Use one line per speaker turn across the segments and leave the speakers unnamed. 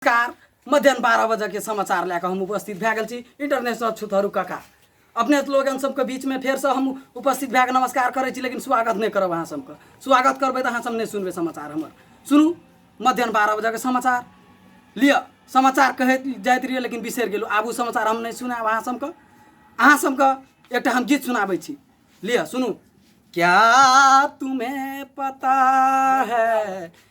Car मध्यान्ह बारह बजे के समाचार लए कऽ हम उपस्थित भए गेल छी इंटरनेशनल छुतहरू काका अपने लोगन सबके बीचमे फेरसँ हम उपस्थित भए कऽ नमस्कार करै छी लेकिन स्वागत नहि करब अहाँ सबके स्वागत करबै तऽ अहाँ सब नहि सुनबै समाचार हमर सुनू मध्यान्ह बारह बजेके समाचार लिअ समाचार कहैत जाइत रहियै लेकिन बिसरि गेलहुँ आब ओ समाचार हम नहि सुनायब अहाँ सबके अहाँ सबके एकटा हम गीत सुनाबै छी लिअ सुनू क्या तुम्हें पता है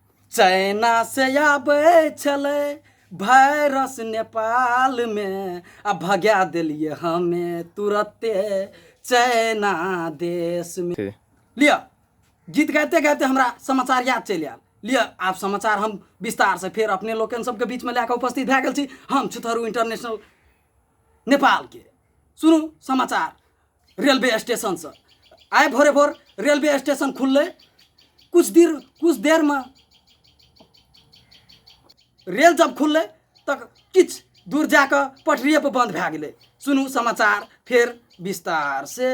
चाइना से आबै छलै वायरस नेपाल में आ भगा दिलिए हमे तुरते चाइना देश में ठीक। लिअ गीत गाते गाते हमरा समाचार याद चलि आयल लिअ आब समाचार हम विस्तार से फेर अपने लोकन सबके बीच में लए कऽ उपस्थित भए गेल छी हम छुथरू इंटरनेशनल नेपाल के सुनू समाचार रेलवे स्टेशनसँ आइ भोरे भोर रेलवे स्टेशन खुललै कुछ देर कुछ देरमे रेल जब खुललै तऽ किछु दूर जा कऽ पटरिएपर बन्द भए गेलै सुनू समाचार फेर विस्तार से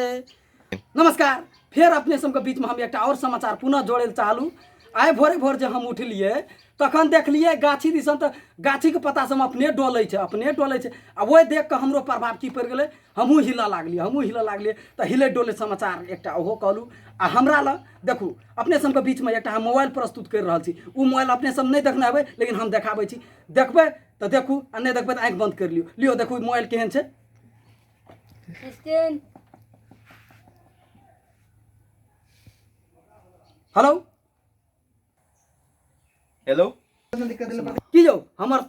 नमस्कार फेर अपने सबके बीचमे हम एकटा आओर समाचार पुनः जोड़ै लए चाहलू आइ भोरे भोर जे हम उठलियै तखन देखलियै गाछी दिसन तऽ गाछीके पत्ता सब अपने डोलै छै अपने डोलै छै आ ओहि देख कऽ हमरो प्रभाव की पड़ि गेलै हमहूँ हिलऽ लागलियै हमहूँ हिलऽ लागलियै तऽ हिलै डोले समाचार एकटा ओहो कहलहुँ आ हमरा लग देखू अपने सबके बीचमे एकटा हम मोबाइल प्रस्तुत करि रहल छी ओ मोबाइल अपने सब नहि देखने हेबै लेकिन हम देखाबै छी देखबै तऽ देखू आ नहि देखबै तऽ आँखि बन्द करि लियौ लियौ देखू मोबाइल केहन छै हेलो हेलो की यौ हमर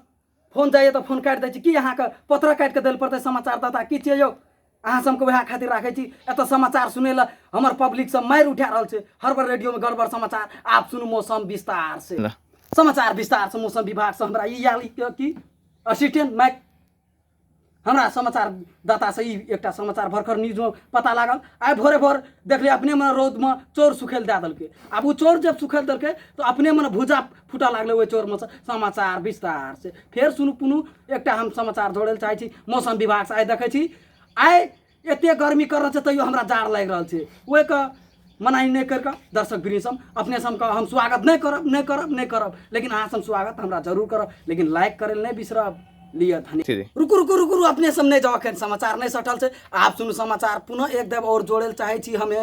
फोन जाइए तऽ फोन काटि दै छी की अहाँके पत्र काटि कऽ दै पड़तै समाचारदाता की छियै यौ अहाँ सबके वएह खातिर राखै छी एतऽ समाचार सुनै लए हमर पब्लिक सब मारि उठा रहल छै हर बार रेडियो में गड़बड़ समाचार आप सुनू मौसम विस्तार से समाचार विस्तार से मौसम विभाग से हमरा ई आयल कि असिस्टेंट माइक हमरा समाचारदातासँ ई एकटा समाचार भरखर न्यूजमे पता लागल आइ भोरे भोर देखलियै अपने मने रौदमे चोर सुखै लए दए देलकै आब ओ चोर जब सुखै लए देलकै तऽ अपने मने भुजा फूटऽ लागलै ओहि चोरमे समाचार विस्तार से फेर सुनू पुनू एकटा हम समाचार जोड़ै लए चाहै छी मौसम विभागसँ आइ देखै छी आइ एते गर्मी कर रहल छै तैयो हमरा जाड़ लागि रहल छै ओहिके मनाही नहि करिके दर्शक वृंदसम अपने सबके हम स्वागत नहि करब नहि करब नहि करब लेकिन अहाँ सब स्वागत हमरा जरूर करब लेकिन लाइक करै नहि बिसरब लिअ धनी रुकू रुकू रुकू अपने सब नहि जाओ अखन समाचार नहि सटल छै आब सुनू समाचार पुनः एक देव और जोड़े लए चाहै छी हमे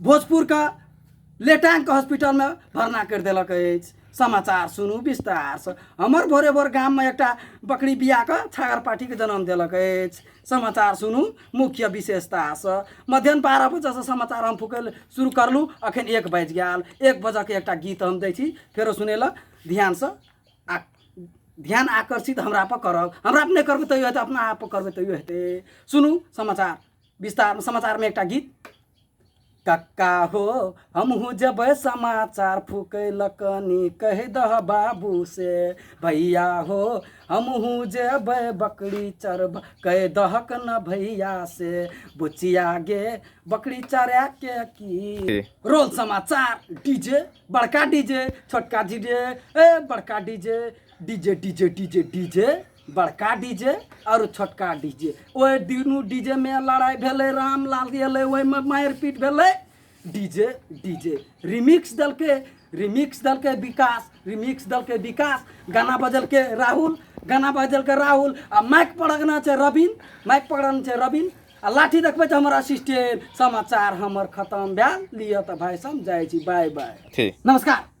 भोजपुर का लेटांग के हॉस्पिटल में भरना कर दिलक अछि समाचार सुनू विस्तार से हमर भोरे भोर गाम में एकटा बकरी बिया के छागर पाठी के जन्म दिलक अछि समाचार सुनू मुख्य विशेषता से मध्यान्ह बारह बजे से समाचार हम फुकल शुरू करलू अखन एक बाजि गेल एक बजे के एकटा गीत हम दै छी फेरो सुने ला ध्यान से आ ध्यान आकर्षित हमरा पर करब हमरा पर नहि करबै तैयो हेतै अपना आप पर करबै तैयो हेतै सुनू समाचार विस्तार समाचारमे एकटा गीत कक्का हो हमहूँ जबै समाचार फुकैलक नी कहि दह बाबू से भैया हो हमहूँ जेबै बकरी चरब कहि दहक न भैया से बुचिया गे बकरी चरा के की रोल समाचार डीजे बड़का डीजे छोटका डीजे ए बड़का DJ DJ DJ DJ DJ बड़का डीजे और छोटका डीजे ओहि दुनू डीजे में लड़ाई भेलै रामलाल एलै ओहिमे मारपीट भेलै डीजे डीजे रिमिक्स दलके रिमिक्स दलके विकास रिमिक्स दलके विकास गाना बजलके राहुल गाना बजलके राहुल आ माइक पकड़ना छै रविन माइक पकड़ना छै रविन आ लाठी देखबै तऽ हमर असिस्टेंट समाचार हमर खतम भेल लिअ तऽ भाई सब जाइ छी बाय बाय ठीक नमस्कार